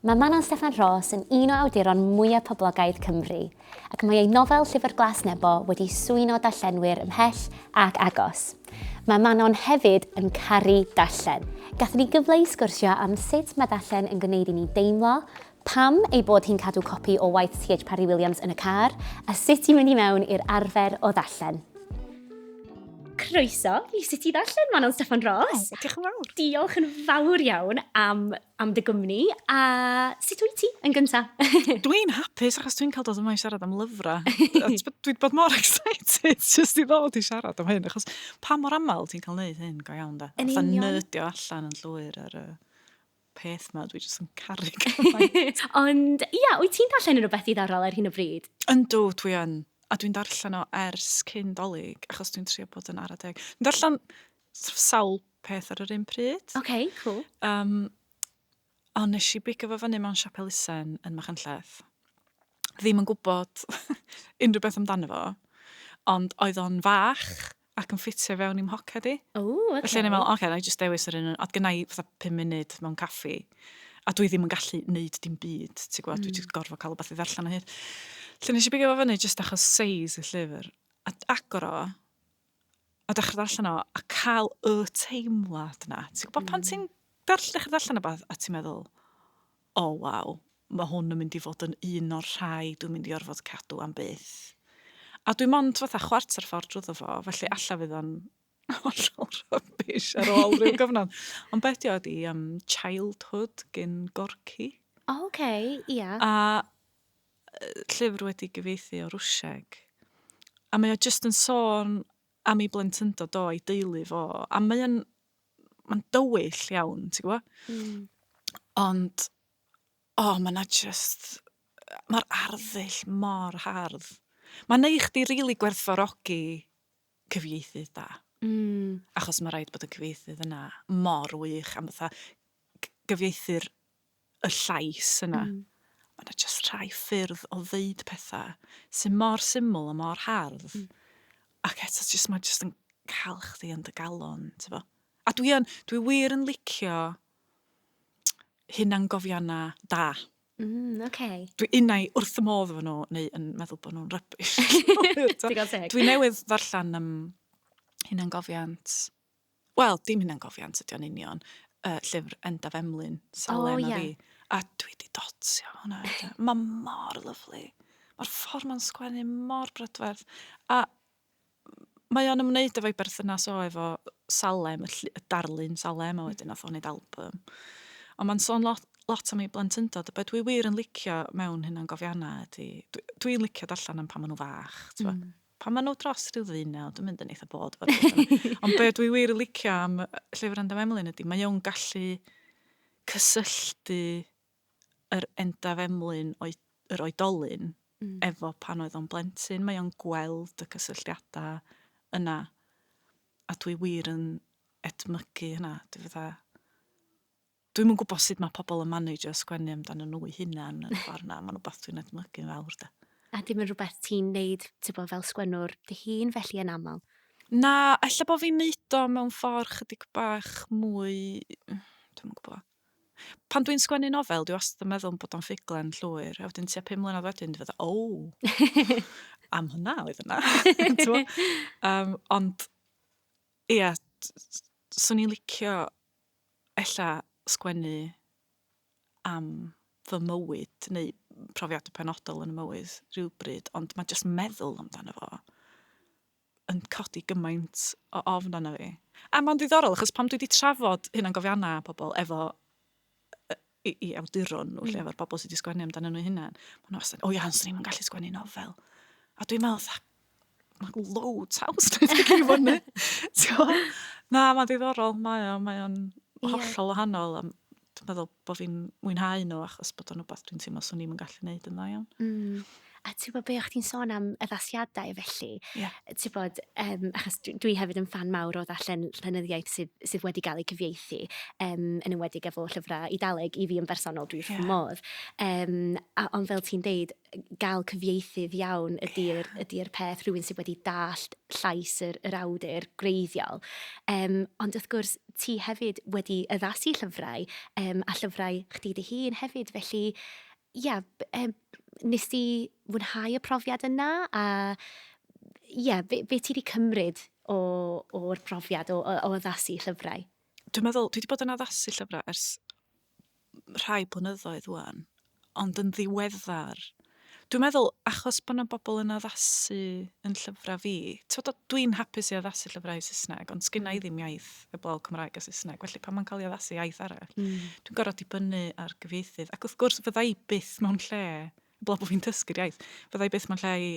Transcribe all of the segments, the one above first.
Mae Manon Steffan Ros yn un o awduron mwyaf poblogaidd Cymru, ac mae ei nofel Llyfr Glas Nebo wedi swyno darllenwyr ymhell ac agos. Mae Manon hefyd yn caru darllen. Gathon ni gyfle i sgwrsio am sut mae darllen yn gwneud i ni deimlo, pam ei bod hi'n cadw copi o waith TH Parry Williams yn y car, a sut i mynd i mewn i'r arfer o ddarllen. Croeso i Sut i Ddarllen, Manon Steffan Ros. O, diolch yn fawr. Diolch yn fawr iawn am am dy gwmni a sut wyt ti yn gyntaf? Dwi'n hapus achos dwi'n cael dod yma i siarad am lyfrau. Dwi 'di bod mor excited jyst i ddod i siarad am hyn achos pa mor aml ti'n cael neud hyn go iawn 'de? Yn union. Fatha nydio allan yn llwyr ar y peth 'ma dwi jyst yn caru cymaint. Ond ia, wyt ti'n darllen rhywbeth ddiddorol ar hyn o bryd? Yndw, dwi yn. A dwi'n darllen o ers cyn 'Dolig achos dwi'n trio bod yn ara deg. Dwi'n darllen sawl peth ar yr un pryd. OK, cool. Um, ond nes i bigo fo fyny mewn siop elusen yn Machynlleth. Ddim yn gwybod unrhyw beth amdano fo, ond oedd o'n fach ac yn ffitio fewn i'm hoced i. O, oce. Okay. Felly o'n i'n meddwl, oce, okay, na i just dewis yr un, oedd gynnau i fatha 5 munud mewn caffi, a dwi ddim yn gallu neud dim byd, ti'n gwybod, mm. dwi wedi gorfod cael o beth i ddarllen o hyd. Felly nes i bigo fo fyny just achos seis y llyfr, a agor o, a dechrau darllen o, a cael y teimlad na. Ti'n gwybod mm. pan ti'n darll, dechrau darllen o beth, a ti'n meddwl, o oh, waw, mae hwn yn mynd i fod yn un o'r rhai dwi'n mynd i orfod cadw am byth. A dwi'n mond fatha chwarter ffordd drwy fo, felly alla fydd o'n hollol rhybys ar ôl rhyw gyfnod. Ond beth di oedd i um, Childhood gyn Gorky. O, oh, oce, okay, ia. Yeah. A llyfr wedi gyfieithu o Rwsieg, a mae o jyst yn sôn am ei blentyndod o, ei deulu fo, a mae o'n, mae'n dywyll iawn, ti'n gwybod? Mm. Ond, o, oh, mae yna jyst, mae'r arddull mor hardd. Mae'n ei chdi rili really gwerthfarogi cyfieithydd da. Mm. Achos mae rhaid bod y cyfieithydd yna mor wych am fatha gyfieithu'r y llais yna. Mm. Ma' 'na jyst rhai ffyrdd o ddeud petha sy mor syml a mor hardd. Mm. Ac eto jyst ma' jyst yn cael chdi yn dy galon, ti'n fo? A dwi yn, dwi wir yn licio hunan gofiana da. Mm, okay. Dwi unai wrth y modd efo nhw, neu yn meddwl bod nhw'n rybys. Dwi'n newydd ddarllen um, hunan gofiant Wel, dim hunangofiant ydi o'n union. Uh, llyfr Endaf Emlyn, Salen oh, yeah. a fi. A dwi di dotio hwnna. Mae mor lyflu. Mae'r ffordd mae'n sgwennu mor brydferth. A mae o'n ymwneud efo'i berthynas o efo Salem, y, y darlun Salem, a wedyn nath o'n neud album. Ond mae'n sôn lot, lot am ei blentyndod, a beth dwi wir yn licio mewn hynna'n gofiannau ydy, dwi'n dwi licio darllen am pan maen nhw fach, mm. Pan maen nhw dros rhyw ddeunaw, dwi'n mynd yn eitha bod fod Ond be dwi wir licio am llyfr Endaf Emlyn ydy, mae o'n gallu cysylltu yr Endaf Emlyn o'i, yr oedolyn mm. efo pan oedd o'n blentyn. Mae o'n gweld y cysylltiadau yna. A dwi wir yn edmygu hynna. Dwi fydda, dwi'm yn gwybod sut mae pobl yn managio sgwennu amdano nhw'u hunan yn y ffordd 'na. Mae'n rhywbeth dwi'n edmygu'n fawr 'de. A dim yn rhywbeth ti'n neud, tibod, fel sgwennwr dy hun felly yn aml? Na, ella bod fi'n neud o mewn ffordd chydig bach mwy... dwi'm yn gwybod. Pan dwi'n sgwennu nofel, dwi wastad yn meddwl bod o'n ffuglen llwyr, a wedyn tua pum mlynedd wedyn dwi fatha, o! am hwnna oedd yna. um, ond, ia, swn i'n licio ella sgwennu am fy mywyd neu profiadau penodol yn y mywyd rhywbryd, ond mae jyst meddwl amdano fo yn codi gymaint o ofn arno fi. A mae'n ddiddorol, achos pam dwi wedi trafod hunangofiannau pobl efo i, i awduron nhw, lle, mm. efo'r bobl sydd wedi sgwennu amdano nhw hunan. Mae nhw wastad, o ia, ond ni'n gallu sgwennu nofel. A dwi'n meddwl, mae low taws dwi'n sgwennu i fyny. Na, mae'n ddiddorol, mae o'n mae o'n hollol wahanol. Dwi'n meddwl bod fi'n mwynhau nhw achos bod o'n rhywbeth dwi'n teimlo swn i'n gallu gwneud yn dda iawn. Mm. A ti'n gwybod be, o'ch ti'n sôn am addasiadau felly? Ie. Yeah. Ti'n gwybod, um, achos dwi hefyd yn fan mawr o ddarllen llenyddiaeth sydd, sydd wedi cael ei cyfieithu, um, yn ymwedig efo llyfrau Idaleg i fi yn bersonol, dwi'n yeah. modd. Um, a, ond fel ti'n deud, gael cyfieithydd iawn ydy'r yeah. ydy peth rhywun sydd wedi dallt llais yr, yr awdur greiddiol. Um, ond wrth gwrs, ti hefyd wedi addasu llyfrau um, a llyfrau chdi dy hun hefyd, felly ia, yeah, um, Nes di fwynhau y profiad yna a ie, be, be ti wedi cymryd o'r profiad o, o, o addasu llyfrau? Dwi'n meddwl, dwi wedi bod yn addasu llyfrau ers rhai blynyddoedd wwan, ond yn ddiweddar, dwi'n meddwl achos bod yna bobl yn addasu yn llyfrau fi, dwi'n hapus i addasu llyfrau Saesneg, ond sgynna i mm. ddim iaith heblaw Cymraeg a Saesneg, felly pan mae'n cael ei addasu iaith arall, mm. dwi'n gorfod dibynnu ar gyfieithydd. Ac wrth gwrs, fydda i byth mewn lle, heblaw bod fi'n dysgu'r iaith, fydda i byth mewn lle i,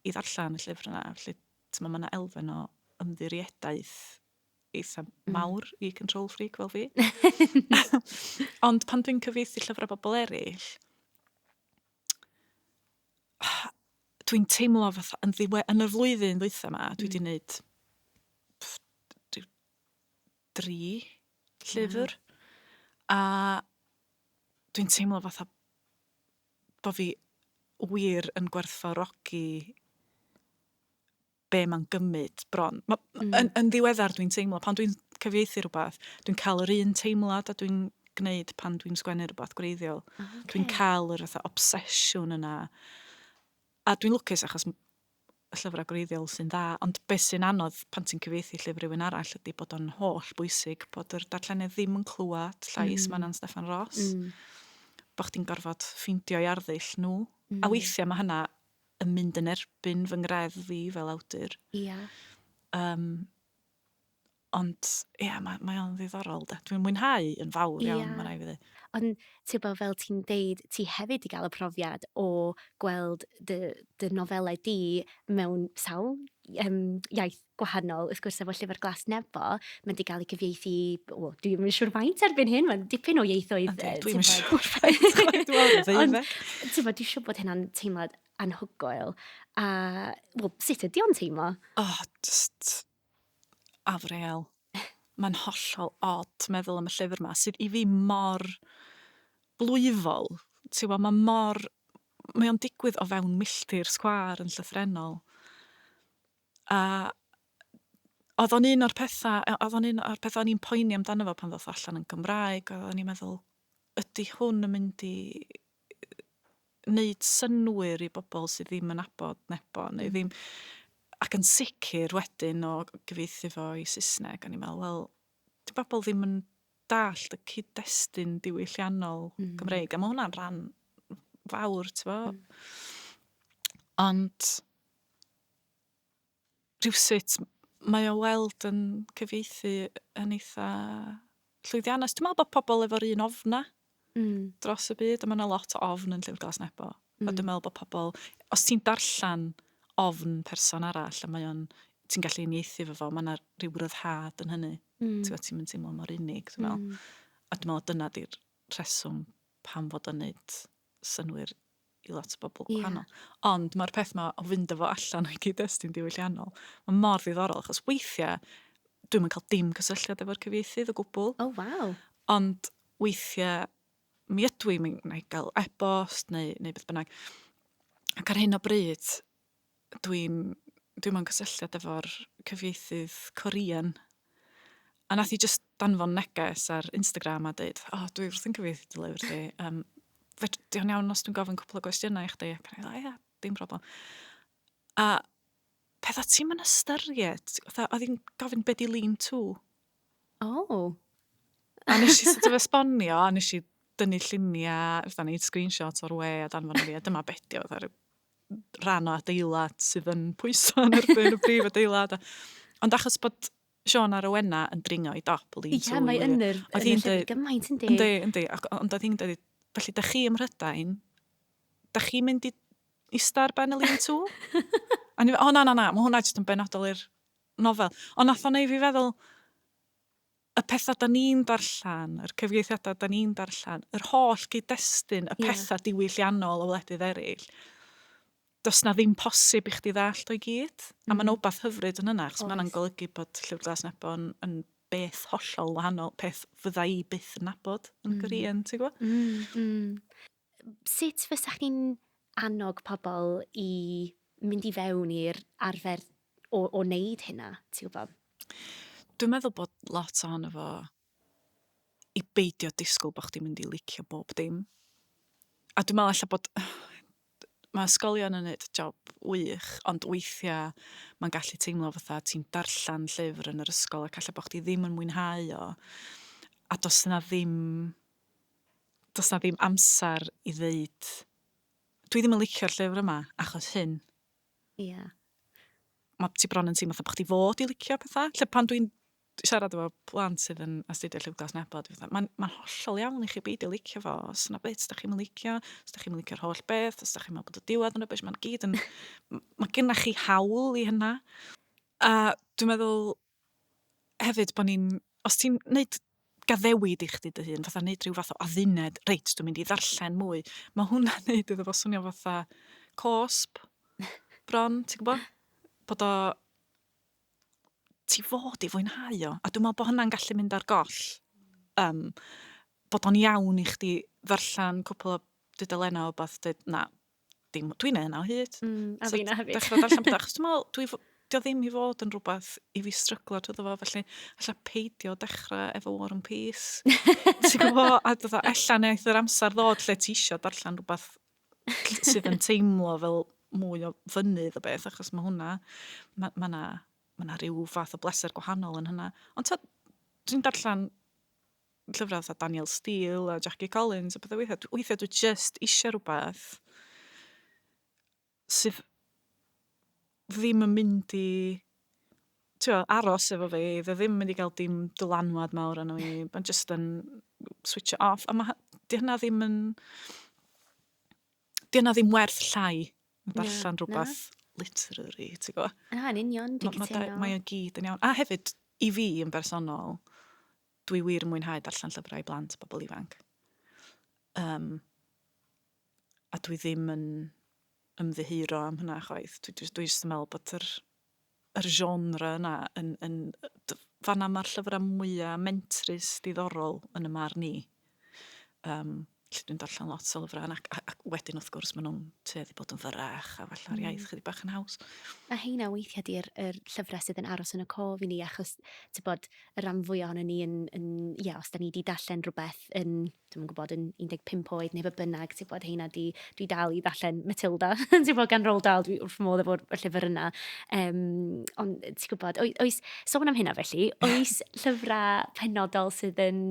i ddarllen y llyfr yna. Felly, mae yna elfen o ymddirieddaeth eitha mm. mawr mm. i control freak fel fi. Ond pan dwi'n cyfieithu llyfrau bobl eraill, dwi'n teimlo fatha yn ddiwe... yn y flwyddyn ddwytha 'ma dwi wedi wneud hmm. pff, dwi- dri llyfr a dwi'n teimlo fatha bod fi wir yn gwerthfawrogi be mae'n gymryd bron. Ma, mm. yn, yn ddiweddar dwi'n teimlo, pan dwi'n cyfieithu rhywbeth, dwi'n cael yr un teimlad a dwi'n gwneud pan dwi'n sgwennu rhywbeth gwreiddiol. Ah, okay. Dwi'n cael yr fatha obsesiwn yna. A dwi'n lwcus achos y llyfrau gwreiddiol sy'n dda, ond beth sy'n anodd pan ti'n cyfeithi llyfr rhywun arall ydy bod o'n holl bwysig bod yr darllenydd ddim yn clywed llais mm. Manon Steffan Ross. Mm. Bod chdi'n gorfod ffeindio i arddull nhw. Mm. A weithiau mae hynna yn mynd yn erbyn fy ngreddf fi fel awdur. Ia. Um, ond, ia, yeah, mae, mae o'n ddiddorol, da. Dwi'n mwynhau yn fawr iawn, yeah. mae rai fi dde. Ond, ti'n bod, fel ti'n deud, ti hefyd i gael y profiad o gweld dy, dy nofelau di mewn sawl um, iaith gwahanol, wrth gwrs, efo Llyfr Glas Nebo, mae wedi cael ei cyfieithu, o, dwi ddim yn siŵr faint erbyn hyn, mae'n dipyn o ieithoedd. Ynddi, dwi ddim yn siŵr faint, dwi'n dweud Ond, ti'n bod, dwi'n siŵr bod hynna'n teimlad anhygoel. A, well, sut ydy o'n teimlo? Oh, just afreal. Mae'n hollol od meddwl am y llyfr yma, sydd i fi mor blwyfol. Ti'n bod, mae mor... Mae o'n digwydd o fewn milltir sgwar yn llythrenol. A oedd o'n un o'r pethau... yy oedd o'n un o'r pethau o'n i'n poeni amdano fo pan ddoth o allan yn Gymraeg, oedd o'n i'n meddwl, ydy hwn yn mynd i wneud synwyr i bobl sydd ddim yn abod nebo, neu ddim... Ac yn sicr wedyn o gyfieithu fo i Saesneg, o'n i'n meddwl, wel, di bobl ddim yn dallt y cyd-destun diwylliannol Gymreig, a mae hwnna'n rhan fawr, ti'n bo. Ond rhywsut mae o weld yn cyfieithu yn eitha llwyddiannus. Dwi'n meddwl bod pobl efo'r un ofna mm. dros y byd, a mae yna lot o ofn yn Llyfr Glas Nebo. Mm. A dwi'n meddwl bod pobl, os ti'n darllen ofn person arall, a mae o'n ti'n gallu unieithu fo fo, mae yna rhyw ryddhad yn hynny. Mm. Ti'n meddwl, ti'n mynd teimlo mor unig, dwi'n meddwl. Mm. A dwi'n meddwl, dyna di'r rheswm pam fod o'n neud synnwyr i lot o bobl gwahanol. Yeah. Ond mae'r peth yma o fynd efo allan o'i gyd-destun diwylliannol, mae mor ddiddorol, achos weithiau dwi'n mynd cael dim cysylltiad efo'r cyfieithydd o gwbl. Oh, wow. Ond weithiau mi ydw i'n mynd i gael e-bost neu, neu beth bynnag. Ac ar hyn o bryd, dwi'n dwi mewn cysylltiad efo'r cyfieithydd Korean a nath hi jyst danfon neges ar Instagram a dweud, o, dwi wrthi'n cyfieithu dy lyfr di. Um, fedr- di o'n iawn os dwi'n gofyn cwpl o gwestiynau i chdi? Ac o'n i fel, ia, dim problem. A pethau ti'n yn ystyried, fatha, oedd hi'n gofyn beth di lean to. O. A nes i sort of esbonio, a nes i dynnu lluniau, fatha neud screenshots o'r we a danfon i fi, a dyma beth di o, fatha rhyw rhan o adeilad sydd yn pwyso yn erbyn y prif adeilad. Ond achos bod Sean a Rowena yn dringo i dop y lean-to. Ie, mae yn yr, yn y llyfr gymaint yn di. Yndi, yndi. Ond oedd hi'n dweud, felly, da chi ym Mhrydain, da chi'n mynd i ista ar ben y lean to? a ni, o na, na, na, mae hwnna jyst yn benodol i'r nofel. Ond nath o'n ei fi feddwl, y pethau da ni'n darllen, yr cyfieithiadau da ni'n darllen, yr holl gyd-destun, y pethau diwylliannol o wledydd eraill, does na ddim posib i chdi ddallt o'i gyd. Mm. A mae'n obath hyfryd yn yna, chos mae'n golygu bod Llyfr Glas Nebo yn, yn beth hollol wahanol, peth fydda i byth yn nabod yn mm. Gorian, ti'n gwybod? Mm, mm. Sut fysa chi'n annog pobl i mynd i fewn i'r arfer o, o wneud hynna, ti'n gwybod? Dwi'n meddwl bod lot ohono fo i beidio disgwyl bod chdi'n mynd i licio bob dim. A dwi'n meddwl allan bod... Mae ysgolion yn neud job wych, ond weithiau mae'n gallu teimlo fatha ti'n darllen llyfr yn yr ysgol ac allan bod chdi ddim yn mwynhau o, a does yna ddim does 'na ddim amser i ddeud, dwi ddim yn licio'r llyfr yma achos hyn. Ie. Yeah. Mae ti bron yn teimlo bod chdi fod i licio pethau. Lle pan dwi'n siarad efo plant sydd yn astudio Llyfr Glas Nebo, dwi'n fatha, mae'n ma hollol iawn i chi beidio licio fo, os yna beth, os da chi'n licio, os da chi'n licio'r holl beth, os da chi'n meddwl bod y diwedd yn rybys, mae'n gyd yn... mae gennych chi hawl i hynna. A dwi'n meddwl, hefyd bod ni'n... Os ti'n wneud gaddewid i chdi dy hun, fatha wneud rhyw fath o adduned, reit, dwi'n mynd i ddarllen mwy, mae hwnna'n wneud iddo fo swnio fatha cosp, bron, ti'n gwybod? Bod o... Ti fod i fwynhau o. A dwi'n meddwl bod hwnna'n gallu mynd ar goll. Um, bod o'n iawn i chdi ddarllen cwpl o dudalennau o beth, dweud, na, dim, dwi'n neud hynna o hyd. Mm, a so, fi na hefyd. Dechrau darllen pethau, achos dwi'n meddwl, dwi, dio ddim i fod yn rhywbeth i fi stryglo trwy ddo fo, felly allai peidio dechrau efo War and Peace. Ti'n gwybod, a dod o, ella wnaeth yr amser ddod lle ti eisiau darllen rhywbeth sydd yn teimlo fel mwy o fynydd o beth, achos mae hwnna, mae yna ma, ma rhyw fath o bleser gwahanol yn hynna. Ond ta, dwi'n darllen llyfrau fatha Daniel Steele a Jackie Collins a pethau weithiau. Dw- Weithiau dwi just eisiau rhywbeth sydd ddim yn mynd i tio, aros efo fi. Dwi ddim yn mynd i gael dim dylanwad mawr arno fi. Mae'n just yn switch it off. A mae di hynna ddim yn... Di hynna ddim werth llai na darllen na. rhywbeth literary, ti'n gwybod? Na, yn union, dwi'n Ma- ma' da- cytuno. Mae o gyd yn iawn. A hefyd, i fi yn bersonol, Dwi wir yn mwynhau darllen llyfrau i blant a bobl ifanc. Yym, a dwi ddim yn ymddiheuro am hynna chwaith. Dwi jyst dwi jyst yn meddwl bod yr yr genre yna yn yn yy d- fan 'na ma'r llyfra mwya mentrus diddorol yn 'y marn i. Yym, felly dwi'n darllen lot o lyfrau ac, ac wedyn wrth gwrs maen nhw'n tueddu bod yn fyrrach a falla'r mm. iaith chydig bach yn haws. A heina weithiau di'r er llyfrau sydd yn aros yn y cof i ni achos ti'n bod y rhan fwy o'n ni yn, yn ia, os da ni wedi darllen rhywbeth yn, dwi'n gwybod, yn 15 oed neu fe bynnag, ti'n bod heina di Dwi dal i ddarllen Matilda yn syml gan Roald Dahl, dwi wrth fy modd efo'r llyfr yna. Um, ond ti'n gwybod, oes, sôn am hynna felly, oes llyfrau penodol sydd yn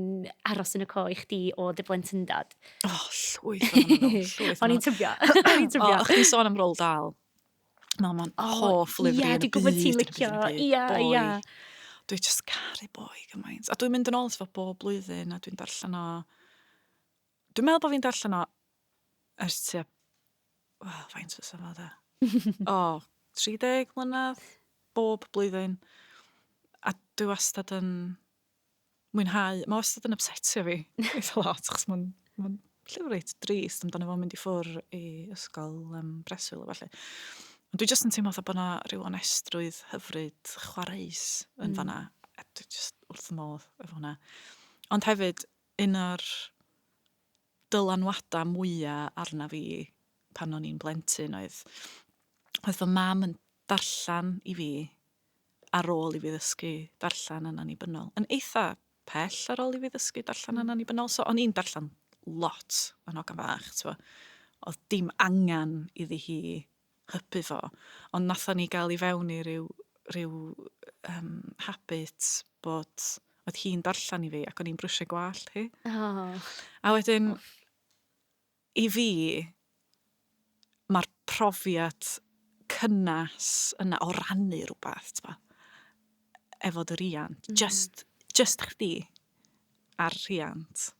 aros yn y co i chdi o dy blentyndod? O, oh, llwyth o'n llwyth. O'n i'n tybio. O'n i'n tybio. O, chdi'n sôn am Roald Dahl. Mae o'n hoff lyfr i'r byd. Ie, dwi'n gwybod ti'n licio. Ie, ie. Dwi'n just caru boi gymaint. A dwi'n mynd yn ôl at fo bob blwyddyn a dwi'n darllen o Dwi'n meddwl bod fi'n darllen o ers tua... Wel, faint fysa fo de? o, 30 mlynedd, bob blwyddyn. A dwi wastad yn mwynhau, mae wastad yn upsetio fi eitha lot, chos mae'n ma llyfr reit drist amdano fo'n mynd i ffwr i ysgol um, breswyl o falle. Ond dwi jyst yn teimlo bod yna rhyw onestrwydd hyfryd chwareus yn mm. fanna. A dwi jyst wrth y modd efo hwnna. Ond hefyd, Un o'r dylanwadau mwya' arnaf i pan o'n i'n blentyn oedd oedd fy mam yn darllen i fi ar ôl i fi ddysgu darllen yn annibynnol. Yn eitha' pell ar ôl i fi ddysgu darllen yn annibynnol, so o'n i'n darllen lot yn hogan fach, t'mo'. O'dd dim angan iddi hi hybu fo, ond nathon ni gael i fewn i ryw ryw yym habit bod oedd hi'n darllen i fi ac o'n i'n brwsio gwallt hi. Oh. A wedyn oh. i fi mae'r profiad cynnes yna o rannu rhywbeth, t'bo, efo dy riant, mm. just just chdi a'r rhiant.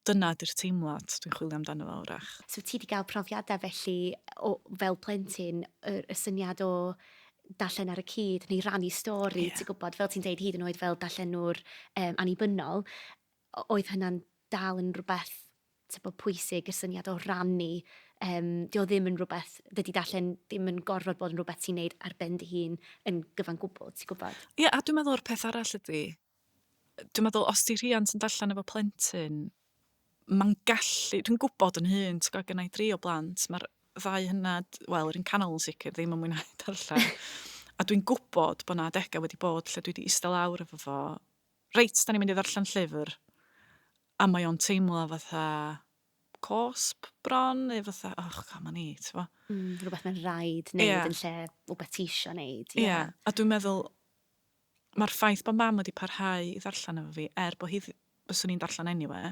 Dyna di'r teimlad dwi'n chwilio amdano fo wrach. So ti 'di gael profiadau felly o fel plentyn y y syniad o darllen ar y cyd neu rannu stori... Ie. ...ti'n gwybod fel ti'n deud hyd yn oed fel darllenwr yym annibynnol o- oedd hynna'n dal yn rywbeth tibod pwysig y syniad o rannu yym 'di o ddim yn rywbeth dydy darllen ddim yn gorfod bod yn rywbeth ti'n neud ar ben dy hun yn gyfan gwbl ti'n gwybod? Ie a dwi'n meddwl yr peth arall ydy dwi'n meddwl os 'di rhiant yn darllen efo plentyn, mae'n gallu... Dwi'n gwybod yn hun, ti'n gwybod, gen i dri o blant, mae'r ddau hynna, wel, yr un canol yn sicr, ddim yn mwynhau darllen. a dwi'n gwybod bod yna adegau wedi bod lle dwi wedi eistedd lawr efo fo, reit, da ni'n mynd i ddarllen llyfr, a mae o'n teimlo fatha cosp bron, neu fatha, och, come on i, ti'n gwybod. Mm, rhywbeth mae'n rhaid wneud yeah. yn lle rhywbeth ti eisiau wneud. Ie, yeah. yeah. a dwi'n meddwl, Mae'r ffaith bod Mam wedi parhau i ddarllen efo fi, er bod hi dd- fyswn i'n darllen anyway,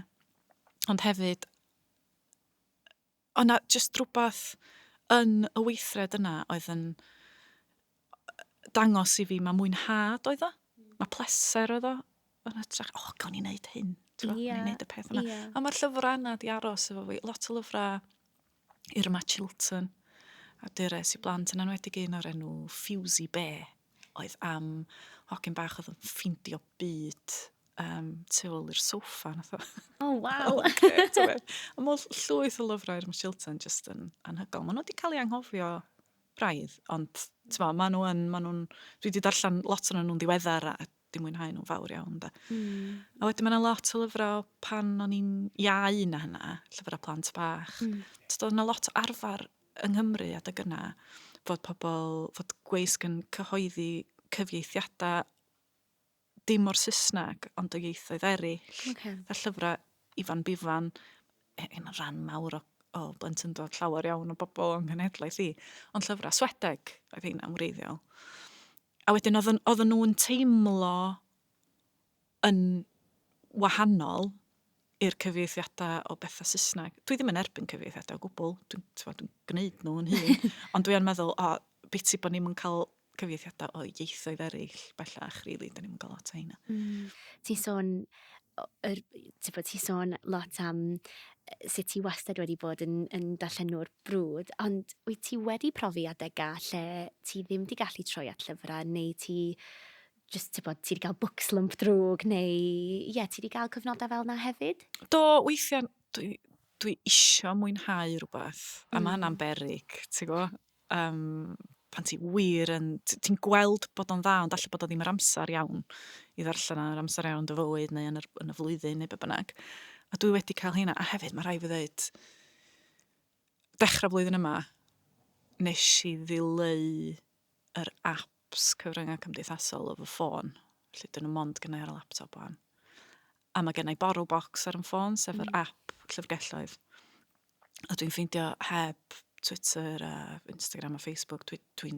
ond hefyd oedd 'na jyst rhywbeth yn y weithred yna oedd yn dangos i fi mae mwynhad oedd o, mae pleser oedd o, yn hytrach, o, gawn ni wneud hyn, ti'n gwbod, gawn ni wneud y peth yma. A mae'r llyfrau yna di aros efo fi, lot o lyfrau Irma Chilton, a dures i blant yn enwedig un o'r enw Ffiwsi Be, oedd am hogyn bach oedd yn ffeindio byd um, tu ôl i'r sofa. Nath o. Oh, wow. okay, a mor llwyth o lyfrau Irma Chilton jyst yn anhygol. Maen nhw wedi cael ei anghofio braidd, ond ma, maen nhw yn, maen nhw'n, dwi wedi darllen lot o'n nhw'n ddiweddar a 'di mwynhau nhw'n fawr iawn, de. Mm. A wedyn mae yna lot o lyfrau pan o'n i'n iau na hynna, llyfrau plant bach. Mm. Tyd, oedd yna lot o arfer yng Nghymru adeg yna, fod pobl, fod gweisg yn cyhoeddi cyfieithiadau dim o'r Saesneg, ond o ieithoedd eraill. Okay. Fe llyfrau Ifan Bifan, e, yn y rhan mawr o, o blentyndod llawer iawn o bobl o'n cenhedlaeth i, ond llyfrau Swedeg oedd hyn am wreiddiol. A wedyn oedd o'n oedden nhw'n teimlo yn wahanol i'r cyfieithiadau o bethau Saesneg. Dwi ddim yn erbyn cyfieithiadau o gwbl, dwi'n dwi, dwi gwneud nhw yn hun, ond dwi'n meddwl, o, beth i bod ni'n cael cyfieithiadau o ieithoedd eraill bellach, rili, really, da ni'n cael lot o hynna. Mm. Ti'n sôn yr, ti'n bod, ti sôn lot am sut ti wastad wedi bod yn, yn darllenwr brwd, ond wyt ti wedi profi adegau lle ti ddim wedi gallu troi at llyfrau, neu ti just, ti'n bod, ti wedi cael book slump drwg, neu, ie, yeah, ti wedi cael cyfnodau fel yna hefyd? Do, weithiau, dwi, dwi isio mwynhau rhywbeth, a mm. mae hynna'n berig, ti'n gwybod? Yym, pan ti wir yn... t- ti'n gweld bod o'n dda, ond falle bod o ddim yr amser iawn i ddarllen o, yr amser iawn yn dy fywyd neu yn yr, yn y flwyddyn neu be bynnag. A dwi wedi cael hynna. A hefyd, mae rhaid fi ddeud, dechrau blwyddyn yma, nes i ddileu yr app apps cyfryngau cymdeithasol o fy ffôn. Felly, dyn nhw mond gynnau ar y laptop o'n. A mae gennau borrow box ar yn ffôn, sef yr mm. app llyfrgelloedd. A dwi'n ffeindio heb Twitter a Instagram a Facebook, dwi'n dwi,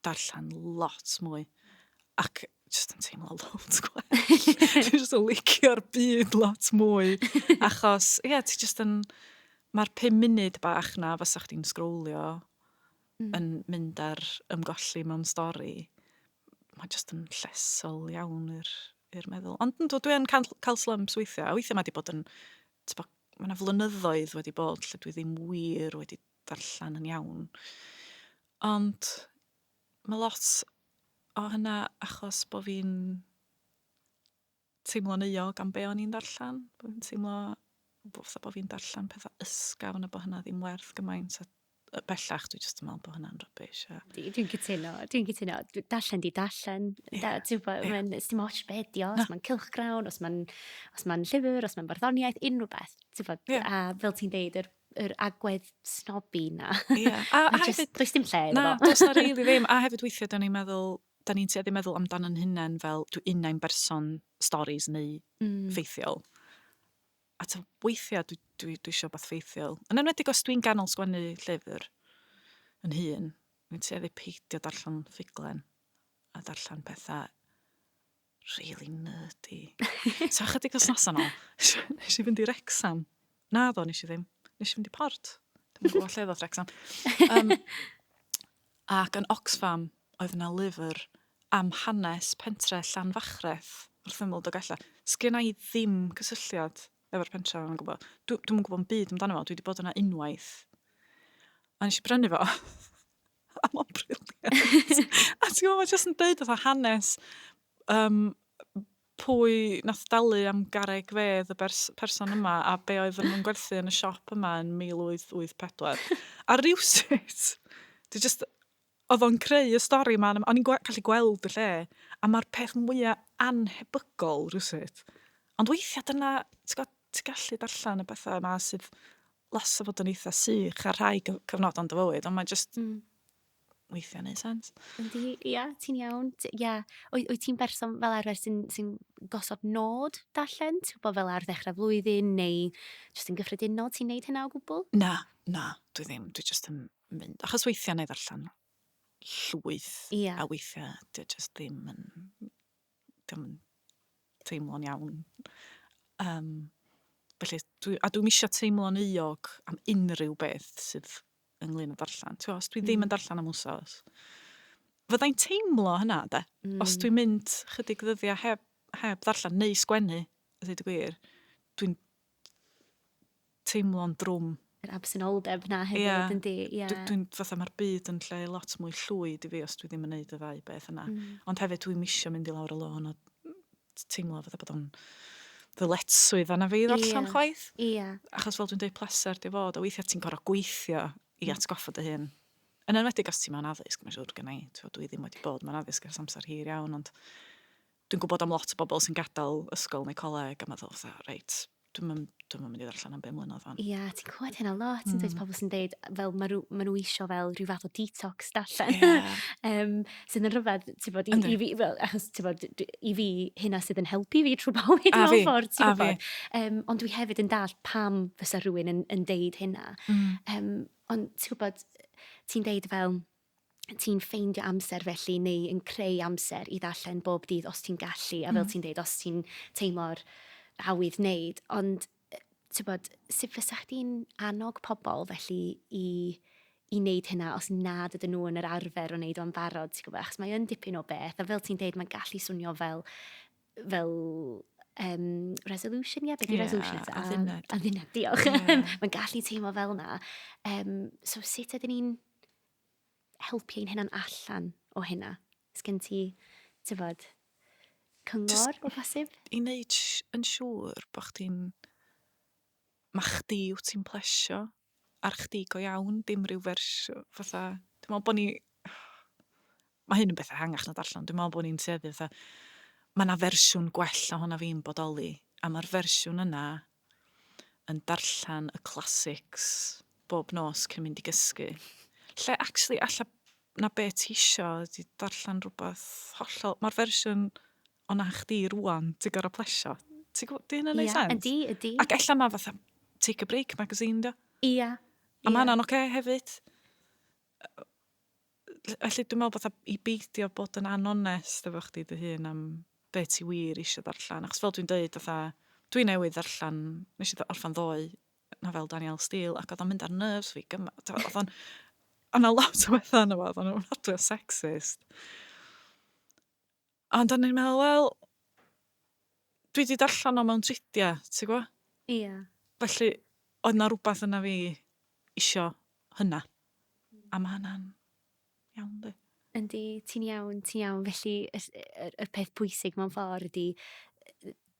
darllen lot mwy. Ac jyst yn teimlo lot gwell. Dwi'n jyst yn licio'r byd lot mwy. Achos, ie, yeah, ti jyst yn... Mae'r pum munud bach na fysa chdi'n sgrowlio yn mynd ar ymgolli mewn stori, mae jyst yn llesol iawn i'r i'r meddwl. Ond yndw, dwi yn cael, cael slumps weithiau, a weithiau mae wedi bod yn... Bo, mae yna flynyddoedd wedi bod lle dwi ddim wir wedi darllen yn iawn. Ond mae lot o hynna achos bod fi'n teimlo'n euog am be o'n i'n ddarllen. Bo' fi'n teimlo bo' fatha bo' fi'n darllen petha ysgafn a bo' hynna ddim werth gymaint a yy bellach dwi jyst yn meddwl bo' hynna'n rubbish a... Dwi dwi'n cytuno dwi'n cytuno. Dwi darllen 'di darllen Ie. da- ti'n gwbo Ie. mae'n sdim ots be' 'di o os ma'n cylchgrawn os ma'n os ma'n llyfyr os ma'n barddoniaeth unryw beth t'bo'... Ie. ...a fel ti'n deud yr yr agwedd snobby 'na. Ie a a hefyd... Mae jyst does dim lle iddo fo. Na does 'na rili ddim a hefyd weithia' 'dan ni'n meddwl 'da ni'n tueddu meddwl amdano'n hunain fel dwi innau'n berson storis neu ffeithiol. A tibod, weithiau dwi, dwi, dwi eisiau beth ffeithiol. Yn enwedig os dwi'n ganol sgwennu llyfr yn hun, dwi'n tueddu peidio darllen ffuglen a darllen pethau Really nerdy. so chydig os nos yno, nes i fynd i Rexham. Na ddo, nes i ddim. Nes i fynd i Port. Dwi'n gwybod lle ddoth Rexham. Um, ac yn Oxfam, oedd yna lyfr am hanes pentre Llanfachreth wrth ymwyl Dogella. Sgyn i ddim cysylltiad efo'r pentre yna'n gwybod. Dwi'n dwi gwybod yn byd amdano fo, dwi wedi bod yna unwaith. A nes i brynu fo. A mae'n briliant. a ti'n gwybod, mae jyst yn dweud oedd hanes um, pwy nath dalu am gareg fedd y bers person yma a be oedd nhw'n gwerthu yn y siop yma yn 1884. a rhywsut, dwi just, oedd o'n creu y stori yma, o'n i'n gallu gweld y lle, a mae'r peth mwyaf anhebygol rhywsut. Ond weithiau dyna, ti'n gallu darllen y bethau yma sydd loss o fod yn eitha sych ar rhai cyfnod o'n dy fywyd, ond mae jyst mm. weithiau'n ei sens. Yndi, ia, ti'n iawn. Ia, o'i, o'i ti'n berson fel arfer sy'n sy gosod nod darllen? Ti'n bod fel ar ddechrau flwyddyn neu jyst yn gyffredinol ti'n neud hynna o gwbl? Na, na, dwi ddim. Dwi jyst yn mynd. Achos weithiau neu ddarllen llwyth. Ia. A weithiau, dwi jyst ddim yn 'dio'm yn teimlo'n iawn. Yym felly dwi... a dwi'm eisiau teimlo'n euog am unrhyw beth sydd ynglyn â darllen. Ti'n os dwi ddim yn mm. darllen am wsos, fyddai'n teimlo hynna, de? Mm. Os dwi'n mynd chydig ddyddiau heb, heb ddarllen neu sgwennu, ydw i wedi gwir, dwi'n teimlo'n drwm. Yr absenoldeb 'na hefyd... Ia. ...yndi? Ia. Dw dwi'n fatha ma'r byd yn lle lot mwy llwyd i fi os dwi ddim yn neud y ddau beth yna. Hmm. Ond hefyd dwi'm isio mynd i lawr y lôn o t- teimlo fatha bod o'n ddyletswydd arna fi ddarllen... Ia. ...chwaith. Ia. Achos fel dwi'n deud pleser 'di o fod a weithia' ti'n gor'o' gweithio i hmm. atgoffa dy hun yn enwedig os ti mewn addysg mae'n siŵr gynna' i t'wod dwi ddim wedi bod mewn addysg ers amser hir iawn ond Dwi'n gwybod am lot o bobl sy'n gadael ysgol neu coleg a meddwl fatha, reit, dwi'n yn, dwi'n mynd i ddarllen am bum mlynedd fan. Ia, ti'n clywed hynna lot, mm. dweud pobl sy'n dweud, fel mae nhw, ma nhw isio fel rhyw fath o detox darllen. Yeah. um, sydd yn rhyfedd, ti'n bod, i, i, fi, fel, achos ti'n bod, i fi, hynna sydd yn helpu fi trwy bywyd mewn ffordd, ti'n bod. Um, ond dwi hefyd yn dall pam fysa rhywun yn, yn deud hynna. Mm. Um, ond ti'n gwybod, ti'n deud fel, ti'n ffeindio amser felly neu yn creu amser i ddarllen bob dydd os ti'n gallu a fel mm. ti'n dweud os ti'n teimlo'r awydd wneud ond tybod sut fysa chdi'n annog pobl felly i i wneud hynna os nad ydyn nhw yn yr arfer o wneud o'n barod, ti'n gwybod, achos mae yn dipyn o beth, a fel ti'n dweud, mae'n gallu swnio fel, fel um, resolution, ie, yeah, beth yeah, resolution eto? Adduned. Adduned, diolch. Yeah. mae'n gallu teimlo fel yna. Um, so sut ydyn ni'n helpu ein hunan allan o hynna? Sgen ti, tyfod, cyngor o bosib? I wneud yn siŵr bod chdi'n... Mae chdi wyt ti'n plesio ar chdi go iawn, dim rhyw fersiwn fatha... Dwi'n meddwl bod ni... Mae hyn yn beth ehangach na darllen, dwi'n meddwl bod ni'n tueddu fatha... Mae 'na fersiwn gwell o hwn na fi'n bodoli, a mae'r fersiwn yna yn darllen y classics bob nos cyn mynd i gysgu. Lle actually alla na be ti isio ydi darllen rhywbeth hollol... Mae'r fersiwn o na chdi rwan, ti'n gorau plesio. Ti'n gwybod, di hynna'n neud yeah, sense? Ydy, ydy. Ac ella na fatha Take a Break magazine, do? Ia. Yeah, A yeah. mae hwnna'n oce okay hefyd. Felly dwi'n meddwl fatha i beidio bod yn anonest efo chdi dy hun am be ti wir eisiau ddarllen. Achos fel dwi'n deud, fatha, dwi newydd ddarllen, nes i orffen ddoe, nofel Daniel Steele, ac oedd o'n mynd ar nerves fi gymaint. Oedd o'n... Oedd na lot o bethau yna fo, oedd o'n ofnadwy o sexist. Ond o'n i'n meddwl, wel, dwi wedi darllen o mewn tridiau, ti'n gwybod? Ie. Yeah. Felly, oedd na rhywbeth yna fi isio hynna. Hmm. A mae hynna'n iawn, di. Yndi, ti'n iawn, ti'n iawn. Felly, y, y, y peth pwysig mewn ffordd ydy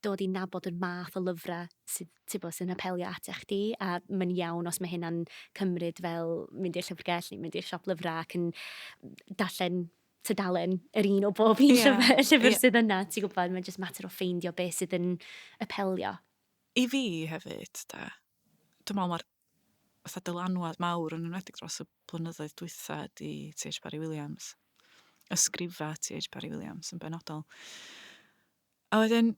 dod i nabod yr math o lyfrau sydd, ti'n bod, sy'n apelio at eich di, a mae'n iawn os mae hynna'n cymryd fel mynd i'r llyfrgell neu mynd i'r siop lyfrau ac yn darllen tudalen, yr un o bob un yeah. llyfr, llyfr yeah. sydd yna, ti'n gwybod, mae'n just mater o ffeindio beth sydd yn apelio. I fi hefyd, da, dwi'n meddwl mae'r fatha dylanwad mawr yn enwedig dros y blynyddoedd dwytha di T.H. Barry Williams. Ysgrifa T.H. Barry Williams yn benodol. A wedyn,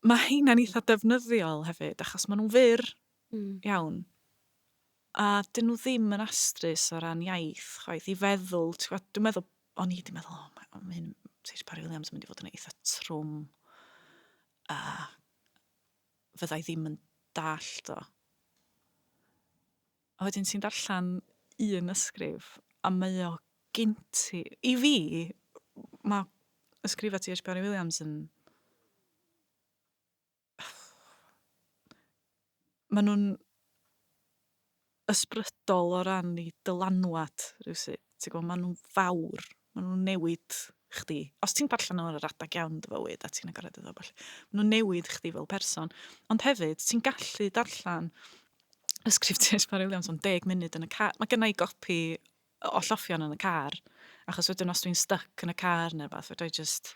mae heina'n eitha defnyddiol hefyd, achos maen nhw'n fyr mm. iawn. A 'dyn nhw ddim yn astrus o ran iaith chwaith, i feddwl, ti'n gwybod, dwi'n meddwl, o'n i 'di meddwl, o, mae hyn, mae Saesneg Parry Williams yn mynd i fod yn eitha trwm, a fydda i ddim yn dallt o. A wedyn ti'n darllen un ysgrif, a mae o gynt i... I fi, mae ysgrifau T.H. Parry Williams yn maen nhw'n ysbrydol o ran ei dylanwad rhywsut. Ti'n gwybod, maen nhw'n fawr, maen nhw'n newid chdi. Os ti'n darllen nhw'n yr adeg iawn dy fywyd a ti'n agored iddo falle, maen nhw'n newid chdi fel person. Ond hefyd, ti'n gallu darllen y sgriptiau Sbari Williams am deg munud yn y car. Mae gennau gopi o lloffion yn y car, achos wedyn os dwi'n styc yn y car neu rhywbeth, fedra i jyst,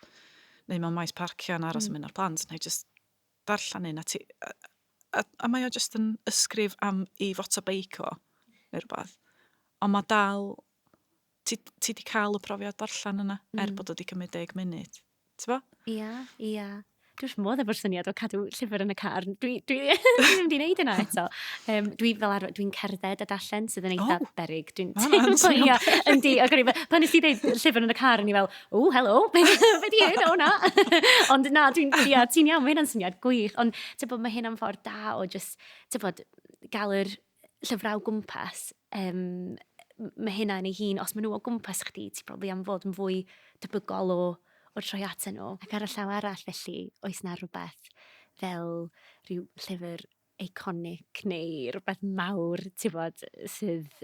neu mewn maes parcio yn aros yn mm. mynd â'r plant, neu jyst darllen un a ti... A, a, a mae o jyst yn ysgrif am i foto beic o, neu rhywbeth. Ond mae dal... Ti, ti di cael y profiad darllen yna, er mm. er bod o wedi cymryd deg munud. T'bo? Ia, ia. Dwi wrth fy modd efo'r syniad o cadw llyfr yn y car. Dwi, dwi, dwi ddim wedi gwneud yna eto. Um, dwi fel arfer, dwi'n cerdded a darllen sydd yn eitha oh, berig. Dwi'n teimlo, yndi, ac o'n i fel, pan nes i ddeud llyfr yn y car, o'n i fel, o, helo, be di hyn o na? ond na, dwi'n, ia, ti'n iawn, mae hynna'n syniad gwych. Ond, ti'n bod, mae hynna'n ffordd da o just, ti'n bod, gael yr llyfrau o gwmpas, yym, mae hynna yn ei hun, os maen nhw o gwmpas chdi, ti'n probably am fod yn fwy debygol o, o troi at nhw. Ac ar y llaw arall felly, oes na rhywbeth fel rhyw llyfr iconic neu rhywbeth mawr, ti'n bod, sydd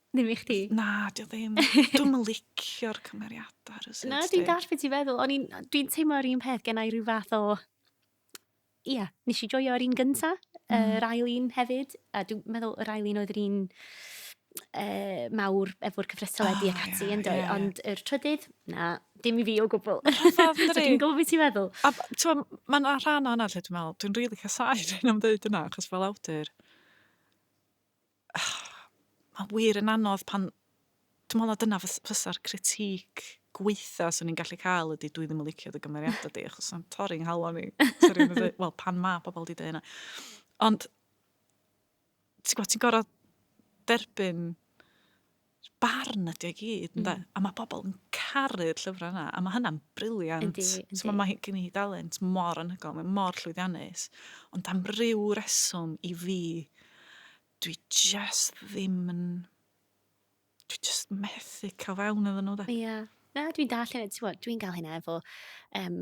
Ddim i chdi? Na, di o ddim. Dwi'n licio'r cymeriadau ar y sut. Na, dwi'n dall beth ti'n feddwl. O'n i'n, dwi'n teimlo yr un peth gennau rhyw fath o... Ia, yeah, nes i joio yr un gynta, mm. yr mm. ail un hefyd. A dwi'n meddwl yr ail un oedd yr un uh, mawr efo'r cyfrestyledu oh, ac ati yeah, yn dweud. Yeah, yeah. Ond yr trydydd, na, dim i fi o gwbl. so dwi'n gwybod beth ti'n meddwl. A ti'n mae'n rhan o'n allu, dwi'n meddwl, dwi'n rili really casau rhywun am dweud yna, achos fel awdur, Mae'n wir yn anodd pan... Dwi'n meddwl na dyna fysa'r critique gweitha 'swn i'n gallu cael ydy dwi ddim yn licio dy gymeriadau di achos mae'n torri nghalon i. Wel, pan mae pobl wedi dweud hynna. Ond ti'n gwybod, ti'n gorfod derbyn barn ydi o i gyd, ynde? Mm. A mae pobl yn caru'r llyfrau yna, a mae hynna'n briliant. Yndi, yndi. So mae gen i dalent mor anhygol, mae mor llwyddiannus. Ond am ryw reswm i fi, dwi just ddim yn... Dwi just methu cael fewn iddyn nhw, da. Ie. Yeah. Na, dwi'n dall, ti'n dwi'n gael hynna efo um,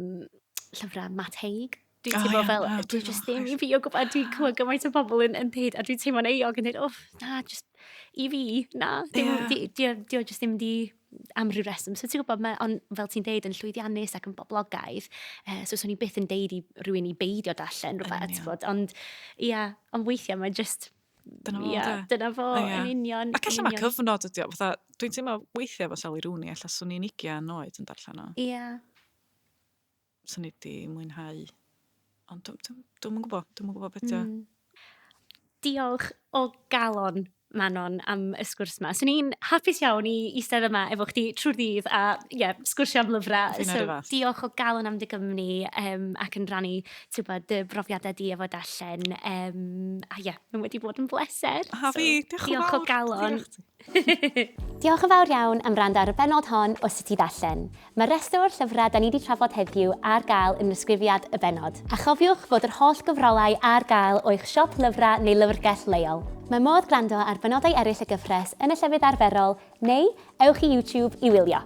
llyfrau Matt Haig. Dwi'n oh, teimlo yeah, fel, no, dwi just ddim i fi o gwybod, dwi'n clywed gymaint o bobl yn, yn dweud, a dwi'n teimlo'n eog yn dweud, oh, na, just i fi, na, dim, yeah. di, di, di, just ddim di am rhyw reswm. So ti'n gwybod, mae, ond fel ti'n deud, yn llwyddiannus ac yn boblogaidd, uh, so swn i'n byth yn deud i rywun i beidio darllen rhywbeth, bod, ond ia, yeah, ond weithiau mae just Dyna fo, yeah, de. Dyna fo, yeah. yn union. Ac allan mae cyfnod ydi o, fatha, dwi'n teimlo weithiau fo Sally Rooney, allan swn i'n igian oed yn darllen o. Ia. Yeah. 'swn i 'di mwynhau. Ond dw- dw- dwi'm yn gwybod, dwi'm yn gwybod beth 'di o. Diolch o galon, Manon, am y sgwrs yma. Swn i'n hapus iawn i eistedd yma efo chdi trwy'r ddydd a ie, sgwrsio am lyfrau. Fi'n So, arifas. diolch o galon am dy gymni um, ac yn rannu ti'n gwbod, dy brofiadau di efo darllen. Um, a ie, mae wedi bod yn bleser. A fi, diolch yn diolch o fawr. galon. Diolch chdi. Diolch yn fawr iawn am wrando ar y benod hon o Sut i Ddarllen. Mae rhestr o'r llyfrau 'da ni 'di trafod heddiw ar gael yn ddisgrifiad y bennod. A chofiwch fod yr holl gyfrolau ar gael o'ch siop lyfrau neu lyfrgell leol. Mae modd gwrando ar benodau eraill y gyfres yn y llefydd arferol neu ewch i YouTube i wylio.